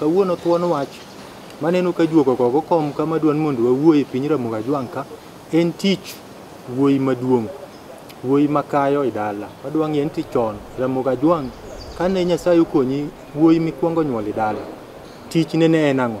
Kawuono thuon wach maneno ka juoko kogo kom ka madwan mondo wawuo e piny Ramogi Ajwang' ka en tich wuoyi maduong', wuoyi makayo e dala. Wadwa ng'e ni to chon Ramogi Ajwang' kane Nyasaye okonyi wuoyi mikwongo nyuolo e dala, tichne ne en ang'o?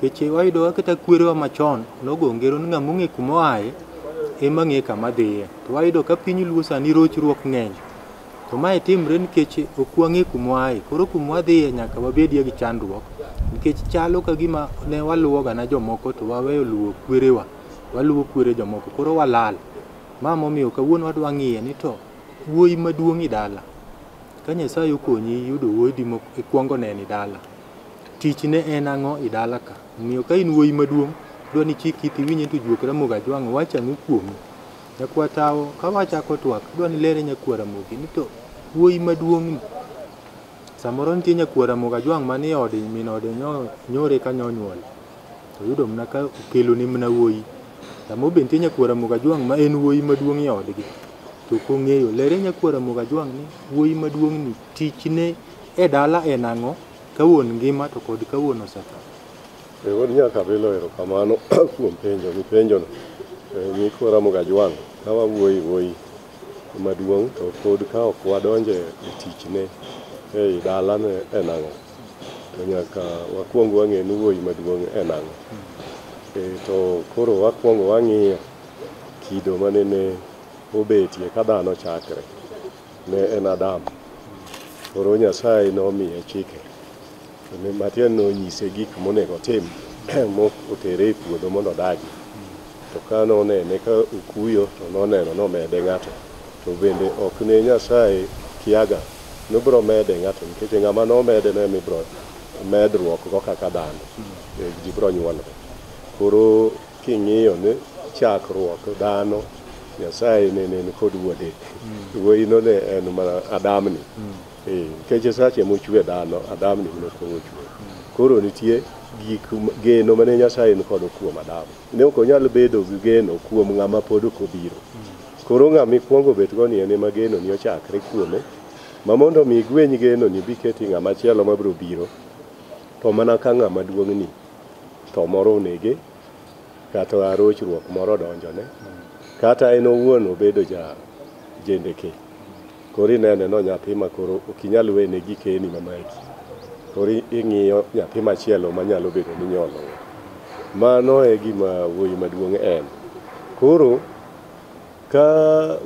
Keche wayudoga kata kwerewa machon nogo ngero ni ng'ama ong'e kuma oaye ema ng'e kama dhiye. To wayudo ka piny luo sani rochruok ng'eny. To mae timre nikech ok wang'e kuma waaye. Koro kuma wadhiye nyaka wabedie gi chandruok nikech chalo ka gima ne waluwo gana jomoko to waweyo luwo kwerewa. Waluwo kwere jomoko koro walal. Ma momiyo kawuono wadwa ng'iye ni to wuoyi maduong' idala. Ka Nyasaye okonyi iyudo wuoyi dimo ikuongo neno idala. Tich ne en ang'o i dala ka? Omiyo ka in wuoyi maduong', dwa ni chik iti iwinj ni to juok Ramogi Ajwang' wacho ang'o kuomi? Nyakwa Tawo, ka wachako twak, adwa ni ilere nyakwa Ramogi ni to wuoyi maduong'ni, samoro nitie nyakwa Ramogi Ajwang' man e ode, min ode nyore ka nonyuole, to oyudo mana ka okelone mana wuoyi. Samoro be nitie nyakwa Ramogi Ajwang' ma en wuoyi maduong' e odgi, to ok ong'eyo. Lere nyakwa Ramogi Ajwang' ni wuoyi maduong'ni Tichne e dala en ang'o ka wuon ngima to kod ka wuon osetho? E, wuod nyaka bilo erokamano kuom penjo mipenjono. E, Nyikwa Ramogi Ajwang' ka wawuoyi wuoyi maduong' to pod ka ok wadonje e tichne ei dalane en ang'o, to nyaka wakwong wang'e ni wuoyi maduong' en ang'o. E, to koro wakwongo wang'iyo kido manene obetie ka dhano chakre. ne en Adam. Koro Nyasaye nomiye chike, kendo matiende ni onyise gik monego otim motere e puodho mondo odagi. To ka nonene ka okuyo, to noneno nomede ng'ato. To bende ok ne Nyasaye kiaga nobiro mede ng'ato, nikech ng'ama nomede no ema ibiro medruokgo kaka dhano, ji biro nyuolore. Koro King'iyo ni chakruok dhano Nyasaye ne nen kod wuode. Wuoyino ne en mana Adamni. Eh, Nikech sache mochwe dhano, Adamni ne ok ochwe. Koro nitie gik m- geno mane Nyasaye ni kodo kuom Adam. Ne ok onyal bedo gi geno kuom ng'ama pod ok obiro. Koro ng'ama ikwongo bet go ni en ema geno ni ochakre kuome. Ma mondo mi igweny geno ni biketi ng'ama chielo mabiro biro to mana ka ng'ama duong'ni tho moro onege kata rochruok moro odonjone kata en owuon obedo ja jendeke koro inene no nyathi ma koro ok inyal wene gikeni mamaki koro ing'iyo nyathi machielo manyalo bedo ni nyolo mano e gima wuoyi maduong' en koro ka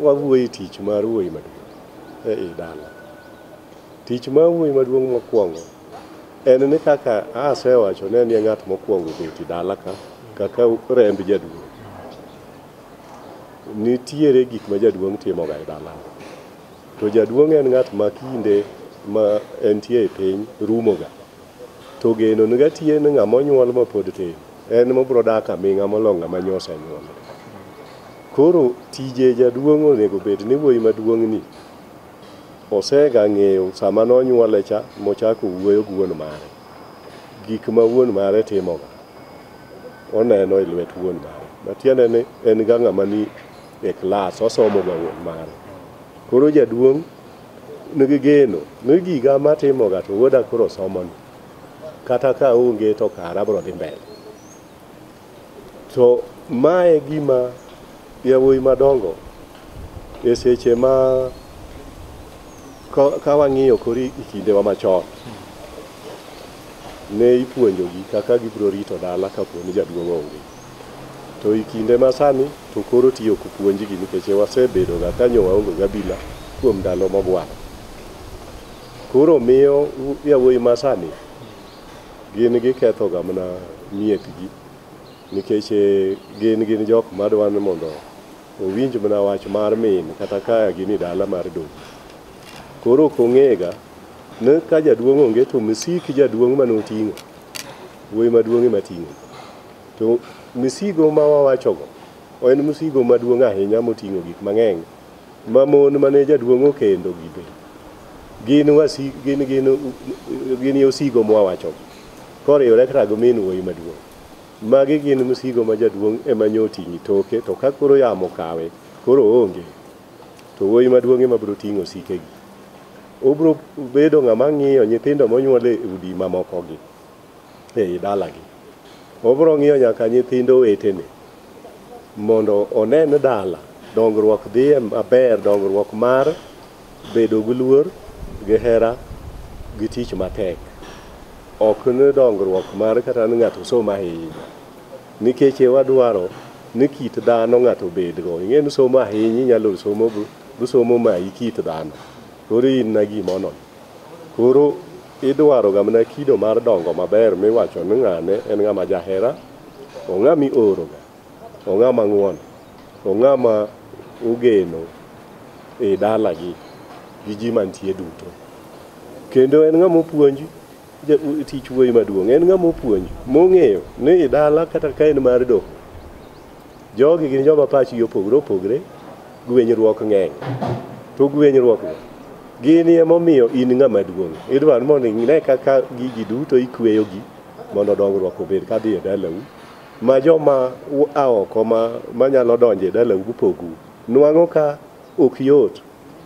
wawuoye tich mar wuoyi maduong' e i dala tich mar wuoyi maduong' mokwongo En ni kaka asewacho ne ni ng'at mokwongo beti dala ka kaka remb jaduong'. Nitiere gik ma jaduong' timoga e dala. To jaduong' en ng'at ma kinde ma entie e piny rumoga. To geno niga tie ni ng'ama onyuol ma pod tin en mobro dak aming'a molo ng'ama nyose nyuol. Koro tije jaduong' onego bed ni wuoyi maduong'ni Osega ng'eyo sama nonyuole cha mochako wuoyo gi wuon mare. Gik ma wuon mare timoga, oneno e lwet wuon mare. Matiende ni en ga ng'ama ni e klas, osomo ga wuon mare. Koro jaduong' nigi geno ni giga matimoga to wuoda koro somoni. Kata ka onge to kara abiro dhi mbele. To ma e gima yawuoyi madongo e seche ma ka, ka wang'iyo kori e kindewa machon ne ipuonjogi kaka gibiro rito dala kapo ni jaduong' onge. To e kinde ma sani to koro ti ok puonjgi nikech wasebedo ga ka nyo waonge gabila kuom ndalo mogwaro. Koro miyo yawuoyi ma sani Gin gikethoga mana miepgi nikech eh, gin gin jok madwa ni mondo owinj mana wach mar min kata ka gin e dala mar dong. Koro ok ong'ega ni ka jaduong' onge to misik jaduong' mane oting'o, wuoyi maduong' ema ting'o. To misigo ma wawachogo en misigo maduong' ahinya moting'o gik mang'eny Ma mon mane jaduong' okendo gi be gin wasi gin gin gin yosigo mwawacho koriwore kata gi min wuoyi maduong'. Magi gin msigo ma jaduong' ema nyo oting'i toke to ka koro yamo kawe koro oonge to wuoyi maduong' ema biro ting'o sikegi. Obiro bedo ng'ama ng'iyo nyithindo monyuol e udi mamokogi. ei dalagi. Obiro ng'iyo nyaka nyithind owetene mondo onen dala, dongruok dhiye maber, dongruok mar bedo gi luor, gi hera, gi tich matek. Ok ni dongruok mar kata ni ng'ato osomo ahinya. Nikech e wadwaro ni kit dhano ng'ato obedgo. Ing'e ni somo ahinya inyalo somo busomo mayi kit dhano. Koro in na gimono. Koro idwaro ga mana kido mar dongo maber miwacho ni ng'ane en ng'ama jahera, ong'a mi ooroga, ong'a ma ng'won, ong'a ma ogeno e dalagi gi ji mantie duto. Kendo en ng'ama opuonj tich wuoyi maduong', en ng'ama opuonj mong'eyo ni i dala kata ka en mar doho, Jogi gin joma pachgi opogore opogre, gwenyruok ng'eny. To gwenyruokgo gini emomiyo in ng'ama duong'. Idwaro mondo ine kaka gigi duto ikweyogi mondo dongruok obed kadhi e dalau. Ma joma a oko ma manyalo donjo e dalau gupogou. Nwang'o ka ok yot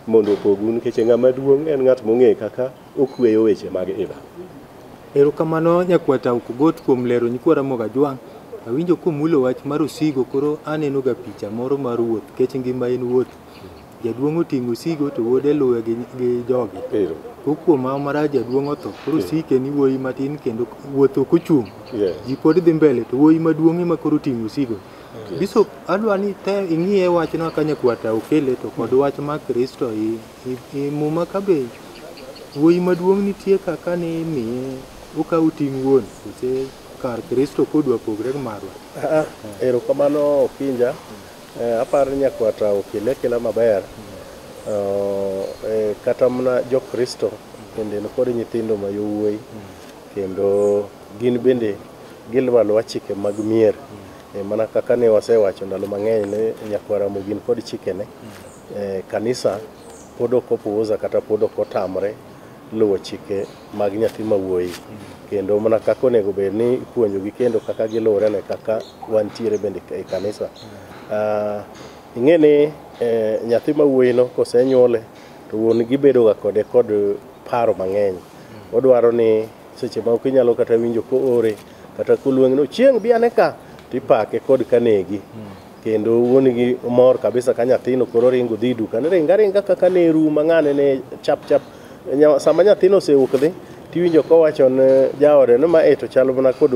mondo opogu nikech ng'ama duong' en ng'at mong'eyo kaka Okueyo weche mag Eva. Erokamano nyakwata Okogot kuom lero nyikwa Ramogi Ajwang'. Awinjo komulo wach mar osigo koro aneno ga picha moro mar wuoth kech ngima en wuoth. Jaduong' oting'o osigo to wuode luwe gi, gi jogi. Ero. Ko kuom ma marach jaduong' otho koro osike ni wuoyi matin kendo wuoth ok ochung'. Yeah. Ji pod dhi mbele to wuoyi maduong' ema koro oting'o osigo. Bishop adwa ni te ing'iye wachno ka nyakwata okele to kod wach ma Kristo i E muma ka be wuoyi maduong' nitie kaka ni imiye okawo ting' wuon kose kar Kristo kodwa pogre gi marwa. Ah, ah, erokamano Okinja. Eh, aparo ni nyakwata okele akela maber. Oh, eh, kata mana jo-Kristo bende nikod nyithindo ma yowuoyi kendo gin bende giluwo aluwa chike mag mier. Eh, mana kaka ne wasewacho ndalo mang'eny ni nyakwara Ramogi nikod chikene Eh, kanisa pod ok opuoza kata pod ok otamre luwo chike mag nyathi ma wuoyi kendo mana kaka onego bed ni ipuonjogi kendo kaka giluwore ne kaka wantiere bende e kanisa Ah, ing'e ni eh, nyathi ma wuoyino kosenyuole to wuon gi bedoga kode kod paro mang'eny odwaro ni seche ma ok inyalo kata winjo koore kata koluong' ni chieng' bi ane ka tipake kod kanegi kendo wuonigi mor kabisa ka nyathino koro ringo dhi duka ne ringa ringa kaka ne ru mang'ane ne chap chap sama nyathino osewuok dhi tiwinjo kowacho ne jaode ni ma e to chal mana kod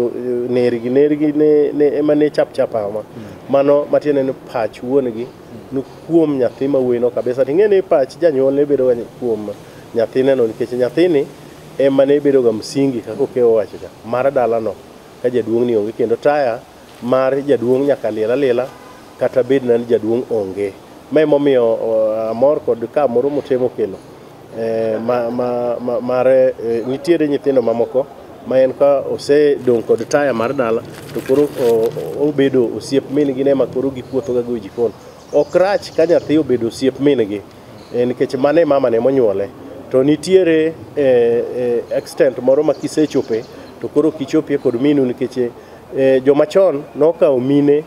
nergi nergi ne ema ne chap chap ama mano matiende ni pach wuongi ni kuom nyathi ma wuoyino kabisa ting'e ni pach janyuol ne bedoga kuom nyathineno nikech nyathini ema ne bedoga msingi kaka okewo wachocha mar dalano ka jaduong'ni onge kendo taya mar jaduong' nyaka liel aliela kata bed na ni jaduong' onge. Ma emomiyo uh, amor kod ka moro motemo kelo eh, ma, ma, ma, mar eh, nitiere nyithindo mamoko ma en ka osedong' kod taya mar dala to koro o- o- obedo osiep min-gi ne ma koro gipuothoga go e jikon. Ok rach ka nyathi obedo osiep min-gi eh, nikech mane mama ne monyuole to nitiere eh, eh, extent moro ma kisechope to koro kichopie kod minu nikech eh, joma chon nokawo mine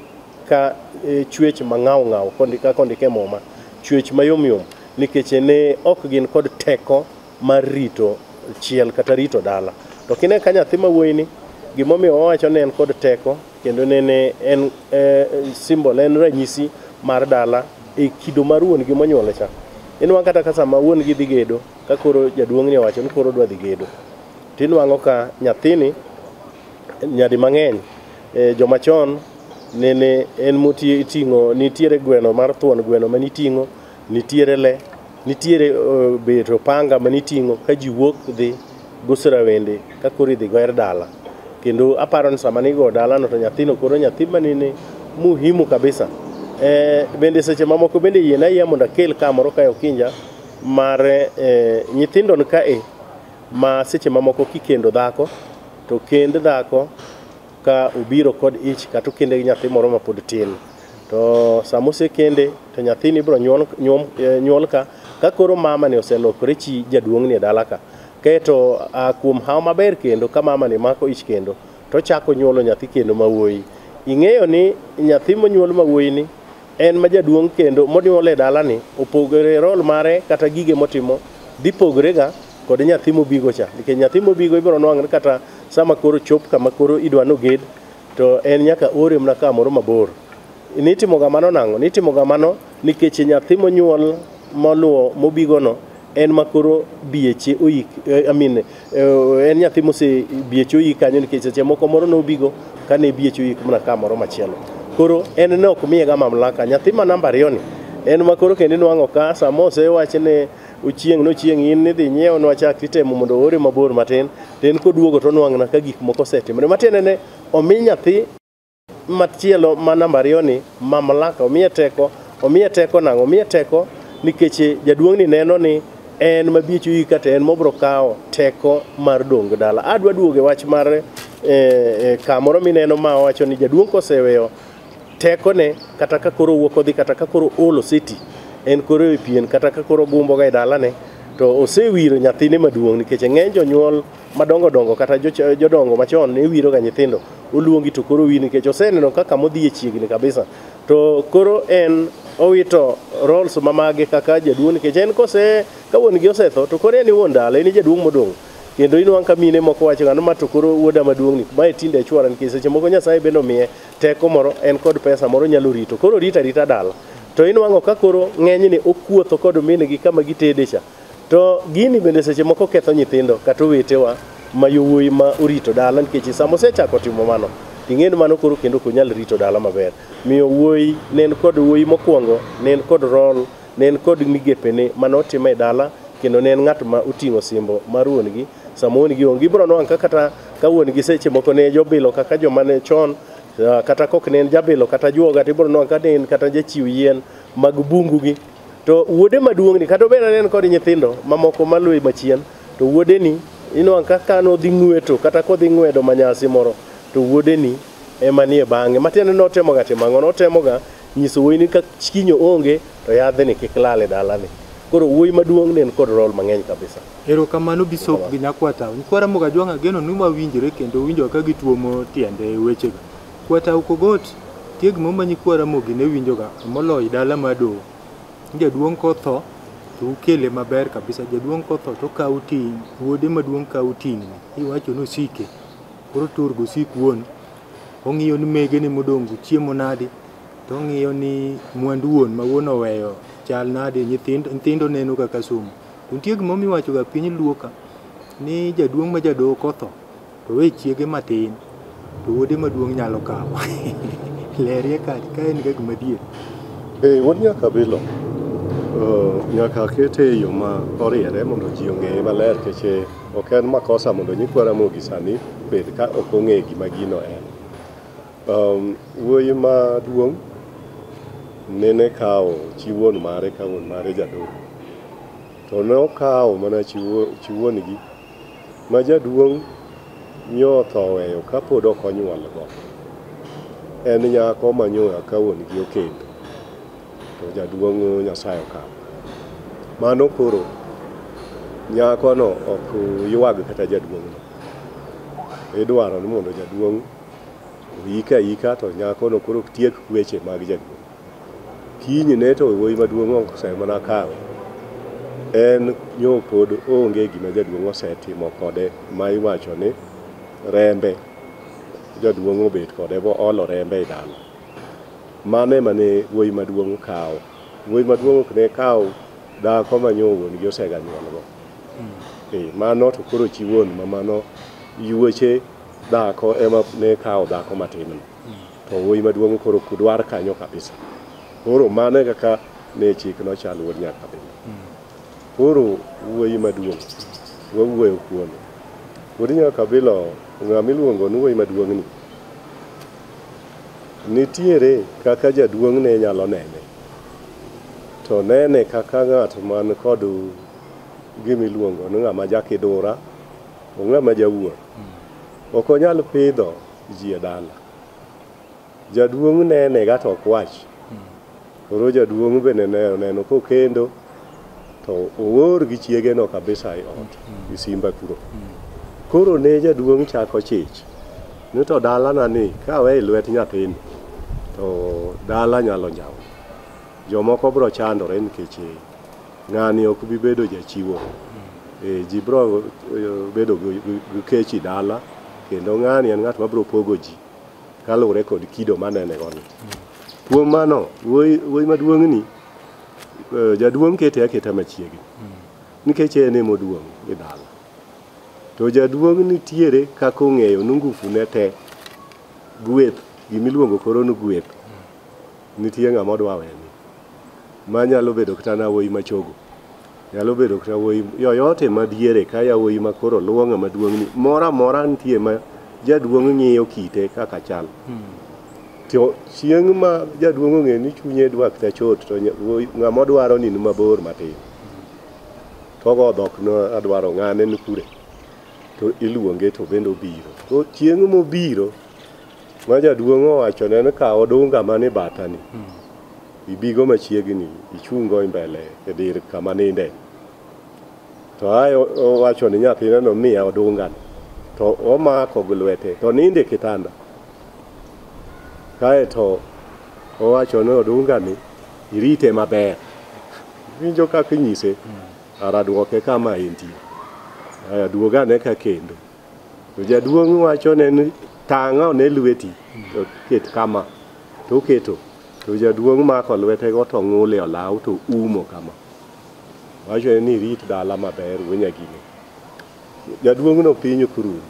ka eh, chwech mang'aw ng'aw kondika kondike muma chwech mayom yom nikech ne ok gin kod teko mar rito chiel kata rito dala to kine ka nyathi ma wuoyini gimomiyo wawacho ni en kod teko kendo nene en eh, symbol en ranyisi mar dala e kido mar wuon gi monyuole cha inwa kata ka sama wuon gi dhi gedo ka koro jaduong' ni owacho ni koro odwa dhi gedo tinwang'o ka nyathini nyadi mang'eny eh, joma chon nene en moting'o nitiere gweno mar thuon gweno ma niting'o nitiere le Nitiere uh, bet opanga ma niting'o ka ji wuok dhi guso rawende ka koro idhi goer dala kendo aparo ni sama nigo dalano to nyathino koro nyathi manene muhimu kabisa e, bende seche mamoko bende yien ayiya mondo akel ka moro kae okinja mar e, nyithindo nikae ma seche mamoko kikendo dhako to kend dhako ka obiro kod ich kata okende gi nyathi moro mapod tin to sama osekende to nyathini ibiro nyuol, nyuol, eh, nyuol ka ka koro mama ni oselokore chi jaduong' ni e dala ka kaeto ah, kuom haw maber kendo ka mama ni mako ich kendo to chako nyuolo nyathi kendo ma wuoyi ing'eyo ni nyathi monyuol ma wuoyi ni en ma jaduong' kendo monyuol e dalani opogore rol mare kata gige motimo dhi pogrega kod nyathi mobigo cha nikech nyathi mobigo ibiro nwang're kata sama koro chop kama koro idwa noged to en nyaka ore mana kamoro mabor nitimo kamano nang'o nitimo kamano nikech nyathi monyuol moluwo mobigono en ma koro bieche oyik eh, I mean, eh, en nyathi mose bieche oyik kanyo nikech seche moko moro nobigo kane bieche oyik mana ka moro machielo koro en ne ok miyega mamlaka nyathi ma namba ariyo ni en ma koro kendo inwang'o ka sama osewach ni ochieng' nochieng' in nidhi nyiewo nwachak titemo mondo oore mabor matin to en koduogo tonwang'na ka gik moko osetimore matiende ne omi nyathi Machielo ma namba ariyo ni mamlaka, omiye teko. Omiye teko nang'o? Omiye teko nikech jaduong'ni neno ni en mabiecho igi kata en mobro kawo teko mar dongo dala. Adwa duogo e wach mar eh, eh, kamoro mineno ma wacho ni jaduong' koseweyo tekone kata ka koro owuok odhi kata ka koro olo seti en koro e pien kata ka koro ogumboga e dalane to osewiro nyathine maduong' nikech ng'eny jonyuol madongo dongo kata joch- jodongo machon ne wiroga nyithindo oluongi to koro wi nikech oseneno kaka modhi e chiegni kabisa to koro en owito roles mamage kaka jaduong' nikech en kose ka wuon gi osetho to koro en e wuon dala en e jaduong' modong' kendo inwang' ka mine moko wacho ng'ano ma to koro wuoda maduong'ni mae tinde achwara nikech seche moko nyasaye bende omiye teko moro en kod pesa moro nyalo rito koro rita rita dala to inwang'o ka koro ng'enyne okuotho kod minegi kama gitede cha To gini bende seche moko ketho nyithindo kata owetewa ma yowuoyi ma orito dala nikech sama osechako timo mano ting'eni mano koro kendo ok onyal rito dala maber. Miyo wuoyi ne en kod wuoyi mokwongo ne en kod rol ne en kod migepene mane otimo e dala kendo ne en ng'at ma oting'o simbo mar wuon-gi sama wuon-gi onge. Ibiro nwango ka kata ka wuon-gi seche moko ne jobilo kaka joma ne chon kata kok ne en jabilo kata juoga to ibiro nwango ka ne en kata jachiw yien mag bungu gi To wuode maduong'ni kata obedo ni en kod nyithindo mamoko maluwe machien, to wuodeni inwang' ka ka nodhi ng'weto kata kodhi ng'wedo manyasi moro, to wuodeni ema nie bang'e. Matiende ni notemoga timo ang'o? Notemoga nyiso wuoyini ka chinyo onge to yadhni kik lal e dalani. Koro wuoyi maduong' ne en kod role mang'eny kabisa. Erokamano Bisop gi Nyakwa Town. Kwa Ramogi Ajwang' ageno ni wawinjre kendo winjowa ka gituomo tiende wechego. Kwata ukogot tieg mo ma nyikwa Ramogi ne winjoga moloyi dala ma doho. Jaduong' kotho to ukele maber kabisa. Jaduong' kotho to okawo ting' wuode maduong' kawo ting'ni iwacho ni osike. Koro tur gosik wuon. Ong'iyo ni megene modong' go chiemo nadi. To ong'iyo ni mwandu wuon ma wuon oweyo chal nadi. Nyithindo nyithindo neno kaka somo. To nitie gimomiwachoga piny luo ka ni jaduong' ma jadoho kotho To we chiege matin to wuode maduong' nyalo kawo. Lerie ka ka en ga gima dier. Eh, wuod nyaka bilo eh, nyaka akete e yo ma oriere mondo ji ong'eye maler keche ok en makosa mondo nyikwa Ramogi sani bed ka ok ong'e gima gino en. Um, wuoyi maduong' nene kawo chi wuon mare ka wuon mare jadolo to nokawo mana chi wuo- chi wuon-gi Ma jaduong' nyo otho oweyo ka pod ok onyuolgo. En nyako ma nyo eka wuon gi okendo. To jaduong' Nyasaye okawo. Mano koro nyakono ok ywag kata jaduong'no. Idwaro ni mondo jaduong' oyike ayika to nyakono koro tiek weche mag jaduong'. Kinyne to wuoyi maduong' ose mana kawe. En nyo pod onge gima jaduong' osetimo kode ma iwacho ni rembe jaduong' obet kode bo olo rembe e dala. Mano ema ne wuoyi maduong' kawo. Wuoyi maduong' ok ne kaw dhako ma nyo wuon gi osega nyuolgo. Eh, mano to koro chi wuon ma mano yuoche dhako ema ne kawo dhako matin no. to wuoyi maduong' koro kudwar kanyo kabisa. Koro mano e kaka ne chik nochal wuod nyakabinda. Koro wuoyi maduong' wawuoyo kuome. Wuod nyakabila ng'ama iluongo ni wuoyi maduong'ni nitiere kaka jaduong' ne nyalo nene to nene kaka ng'at man kod gima iluongo ni ng'ama jakidura, ong'ama jawuoro. Ok onyal pidho ji e dala. Jaduong' nene ga to ok wach. Koro jaduong' bende ne oneno kokendo to oor gi chiege no kabisa e ot gi simba kuro. Koro ne jaduong' chako chich ni to dalana ni kawe e lwet nyathini to dala nyalo njawo. Jomoko biro chandore nikech Ng'ani ok bi bedo jachiwo. E, ji bro e, bedo gi- gi gi kechi dala kendo ng'ani en ng'at mabro pogo ji kaluwore kod kido manene gono. Kuom mano, wuoyi wuoyi maduong'ni e, jaduong' kete aketa machiegni nikech en ema oduong' e dala. To jaduong' nitiere kaka ong'eyo ni ngufu ne te gweth gimiluongo koro ni gweth Nitie ng'ama odwa weni ma nyalo bedo kata na wuoyi machogo nyalo bedo kata wuoyi yoyote madiere ka yawuoyi ma koro luwo ng'ama duong'ni moro amora nitie ma jaduong' ng'iyo kite kaka chal to chieng' ma jaduong' ong'e ni chunye dwa kata chot to nya- wuoyi- ng'ama odwaro ni ni mabor matin togo dhok no adwaro ng'ane ni kure to iluonge to bende obiro to chieng' mobiro Ma jaduong' owachone ni kaw odunga man e batani, ibigo machiegni ichungo e mbele e dir kama ninde. To ae o- owacho ni nyathineno miya odungano, to omako gi lwete, to ninde e kitanda. Kae to owacho ni odungani irite maber. Winjo kaka inyise, ara duoke kama entie. Aya duog ane ka kendo. To jaduong' wachone ni tang'a one lweti to ket kama to oketo to jaduong' mako lwetego to ng'ule olaw to umo kama wachone ni rit dala maber wuo nyagine jaduong'no piny ok rum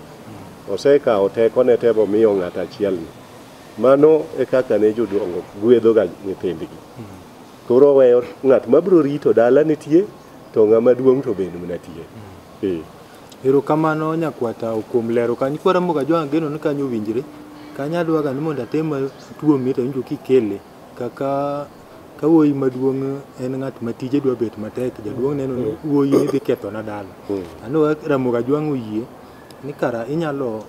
osekawo tekone te momiyo ng'at achielni mano e kaka ne jodongo gwedhoga nyithindgi koro oweyo ng'at mabiro rito dala nitie to ng'ama duong' to bende nitie ee Erokamano nyakwa tao kuom lero kanyo koro amogo ajwang' ageno ni kanyo owinjre. Kanyo adwaga ni mondo atem atuomie to awinjo kikele kaka ka wuoyi maduong' en ng'at ma tije dwa bet matek jaduong' neno ni wuoyi ni dhi kethona dala. Aneno kaka Ramogi Ajwang' oyie ni kara inyalo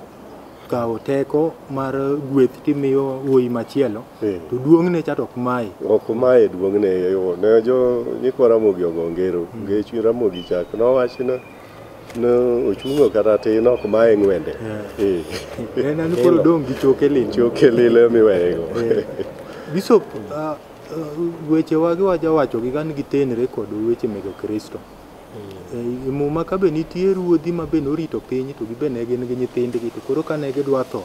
kawo teko mar gweth timiyo wuoyi machielo Eh. to duong'ne cha to ok maye. Ok maye duong'ne yo ne jo nyikwa Ramogi ogo ngero nge chuny Ramogi chak nowachna No, ochungo kata tin ok mae ng'wende. Eh. En an koro dong' gi choke lil. Choke lil ema iweyego. Bishop, ah, ah, weche wagi waja wacho gi gan gitenre kod weche meg Kristo. Eh, E muma ka be nitie ruodhi ma be norito piny to gibe ne gin gi nyithindgi to koro kane gidwa tho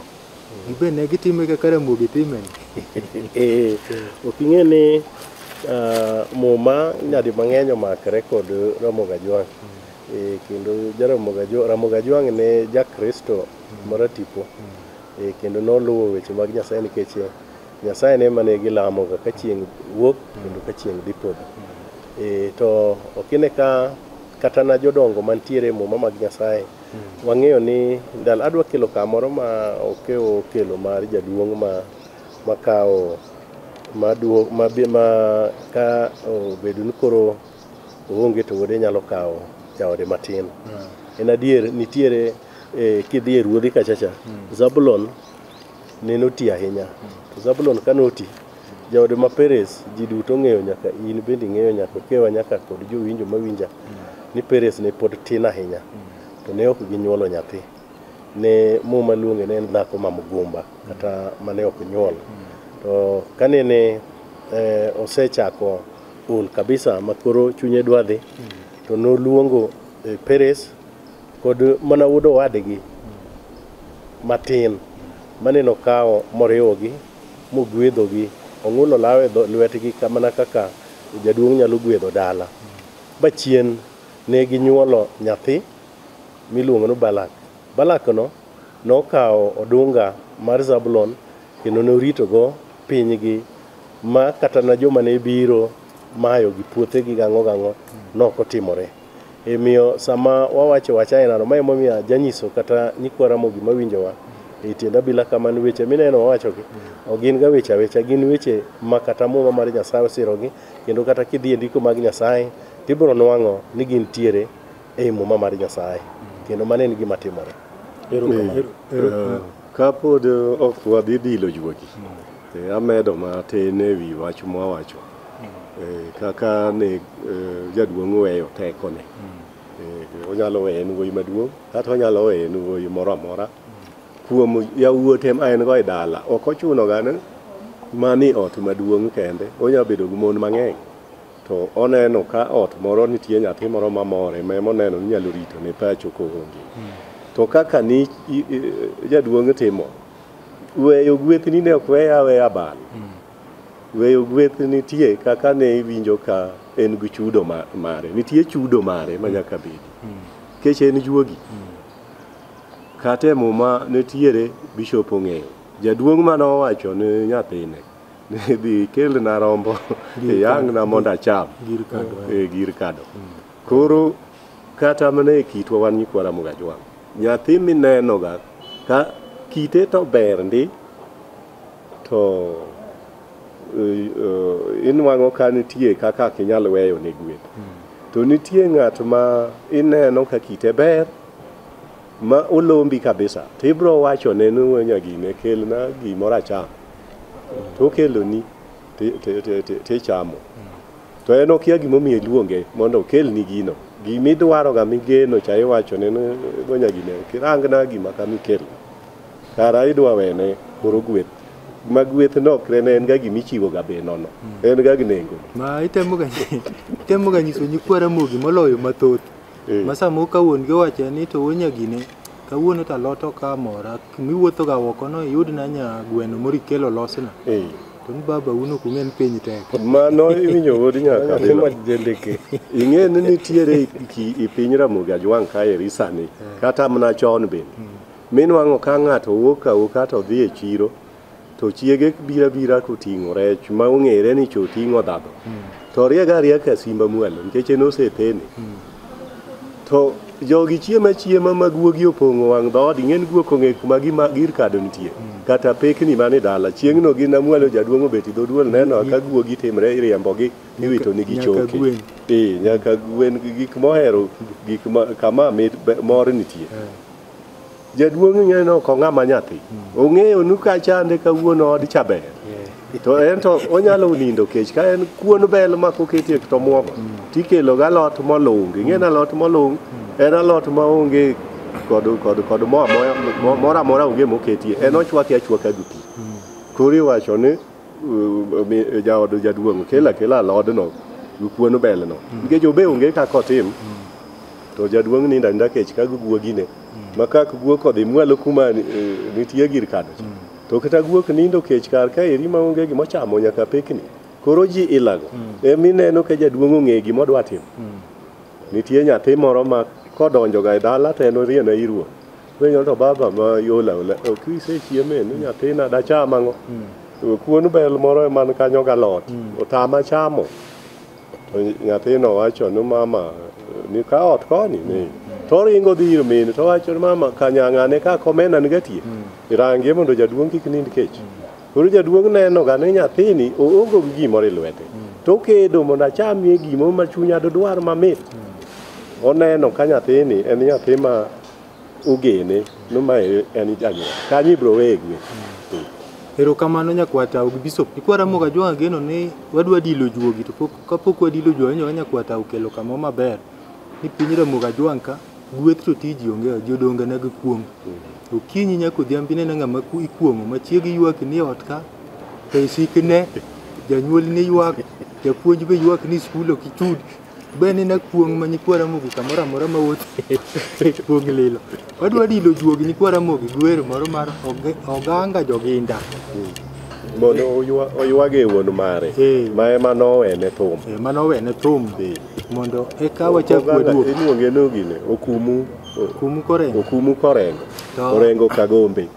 Gibe ne gitime kaka Ramogi timeni. Eh, ok ing'e ni ah, muma nyadi mang'eny omakre kod Ramogi Ajwang'. Eh, kendo ja Ramogi Ajwa- Ramogi Ajwang' ne ja Kristo maratipo Eh, kendo noluwo weche mag Nyasaye nikech eh, Nyasaye ne mane gilamoga ka chieng' wuok kendo ka chieng' dhi podho. Eh, to ok ine ka kata na jodongo mantiere e muma mag Nyasaye Wang'eyo ni ndalo adwa kelo kamoro ma okewo kelo mar jaduong' ma makawo maduo ma bi ma ka obedo ni koro oonge to wuode nyalo kawo jaode matin. En adier nitiere eh, kidhi e ruodhi kachacha Zabulon neno ti ahinya to Zabulon ka noti Jaode ma Peres, ji duto ng'eyo nyaka in bende ing'eyo nyaka okewa nyaka kod jowinjo mawinja ni Peres ne pod tin ahinya to ne ok ginyuolo nyathi. Ne muma luonge ne en dhako ma mgumba kata mane ok nyuol. To kane ne eh, osechako ol kabisa ma koro chunye dwa dhi to noluongo eh, Peres kod mana wuod owadgi matin mane nokawo moriwogi mogwedhogi, ong'ulo lawe e lwetgi mana kaka jaduong' nyalo gwedho dala. Ba chien ne ginyuolo nyathi miluongo ni Balak. Balakno nokawo odunga mar Zabulon kendo noritogo pinygi ma kata na joma ne biro mayogi puothegi gang'o gang'o ne ok otimore. Omiyo sama wawacho wach ainano, ma emomiyo janyiso kata nyikwa Ramogi mawinjowa e tiend abila kamano, weche mineno wawachogi ok gin ga weche awecha, gin weche ma kata Muma mar Nyasaye osirogi, kendo kata kidhi e ndiko mag Nyasaye, tibiro nwang'o ni gintiere ei Muma mar Nyasaye, kendo mano en gima timore. Ero kamano. Eh, Kapod ok wadhi bilo juogi, eh, amedo matin e wi wach mwawacho. kaka ne jaduong' oweyo tekone onyalo weyo en wuoyi maduong' kata onyalo weyo en wuoyi moro amora kuom yawuote ma en go e dala ok ochuno ga ni mani ot maduong' kende onya bedo gi mon mang'eny to oneno ka ot moro nitie nyathi moro mamore ma ema oneno ni nyalo rito ne pacho koonge to kaka ni jaduong' timo weyo gwethni ne ok weye aweya abal Weyo gweth nitie kaka ne iwinjo ka en gi chudo ma- mare. Nitie chudo mare ma nyaka bedi. Nikech en juogi. Kata e muma nitiere bishop ong'eyo. Jaduong' mane owacho ne nyathine ni dhi kelna rombo Gir iyang'na kado. mondo acham. Gir kado, eh. E gir kado. Koro kata mana e kitwa wan nyikwa Ramugajwang', nyathi minenoga ka kite to ber ndi to eh, eh, inwang'o ka nitie kaka ok inyal weyo ne gwen to nitie ng'at ma ineno ka kite ber ma olombi kabisa to ibro wachone ni "Wuo nyagine kelna gimoro acham to okeloni ti- ti- ti- ti- tichamo to en okia gimomiyo iluonge mondo okelni gino gimidwaroga migeno cha iwachone ni "Wuo nyagine kirangna gima kama ikelna Kara idwa wene koro gweth ma gweth nokre ne en ga gima ichiwoga be nono en ga gi nengo ma itemoga itemoga nyiso nyikwa ramogi moloyo mathoth Eh. ma samoro ka wuon gi owacho ni to wuon nyagine kawuono to alot ok amora miwuothoga oko no iyud na nya gweno moro ikelo losna Eh, to ni baba un ok ung'e ni piny tek mano iwinjo wuod nyaka Timo jendeke. ing'e ni nitiere ki- i piny ramogi ajwang' kaeri sani kata mana chon bende Minwang'o ka ng'ato wuok awuoka to dhi e chiro to chiege bira bira koting'o rech ma ong'ere ni choting'o dhadho to riega rieka simba mwalo nikech en osepene to jogi chiema chiema ma guogi opong'o wang' dhood ing'en guok ong'e kuma gima gir kado nitie kata pekni mane dala chieng'no gi namwalo jaduong' obet e dhoduol neno ka guogi timre iriembogi iwito nigi Nyaka choke gwen. ee nyaka gwen gi gik mohero gik ma kama mit be- mor nitie Jaduong' ing'eyo ni ok ong'a ma nyathi. Ong'eyo nu ka chande kawuono od cha ber. To en to onyalo nindo kech ka en kuon bel ma koketie to muogo. Tikelo ga lot molung. Ing'e na lot molung en alot ma onge kod kod kod mo amoya mo- moro amora onge moketie. En ochwake achwaka gi pi. Koro iwacho ni uh, mi- jaod jaduong' kela kela alodno gi kuon belno. Nikech obe onge kaka otim. to jaduong' nindo aninda kech ka guogine mm. ma kak guok odhi mwalo kuma eh, nitie gir kano cha mm. to kata guok nindo kech kar ka eri ma onge gima ochamo nyaka pekni koro ji ilago mm. emi e neno ka jaduong' ong'e gima odwa timo nitie nyathi moro ma kodonjoga e dala to en orieno e iruo penyo to baba ma yola ola ok isechieme ni nyathina dacham ang'o kuon bel moro e man kanyo galot otama chamo To nyathino wacho ni mama ni ka ot koni ni to oringo dhi ir mine to wacho ni mama kanyang'ane ka komena ni gatie irangie mondo jaduong' kik nind kech koro jaduong' neno ga ni nyathini oongo gi gimoro e lwete to okedo mondo achamie gimo ma chunya dodwar mamit oneno ka nyathini en nyathi ma ugene no ma en janyuol kanyo ibro weye gwe erokamano nyakwata ugi bishop ikwara moga jwa ageno ni wadwa dilo juogi to pok kapok wadilo juogi nyoga nyakwata ukelo kama maber ni piny ramoga ajwang' ka gweth to tiji onge jodonga na gikuong' okinyi nyaka odhiambi nena ng'ama ku- ikuong'o machiegi ywak ni ot ka to isikne janyuol ni ywak japuonj be ywak ni skul ok ichud Beni na kuong ma nyikwara mogi kamoro amora ma wuoth e kuong lilo. Wadwa dilo juogi nyikwara mogi gwer moro mar oganga joginda. Mondo oywage wuon mare. Ma ema nowene thum. Ema nowene thum. Mondo eka wachak waduog. Iluonge nogine okumu. Okumu korengo. Okumu korengo. Orengo kagombe.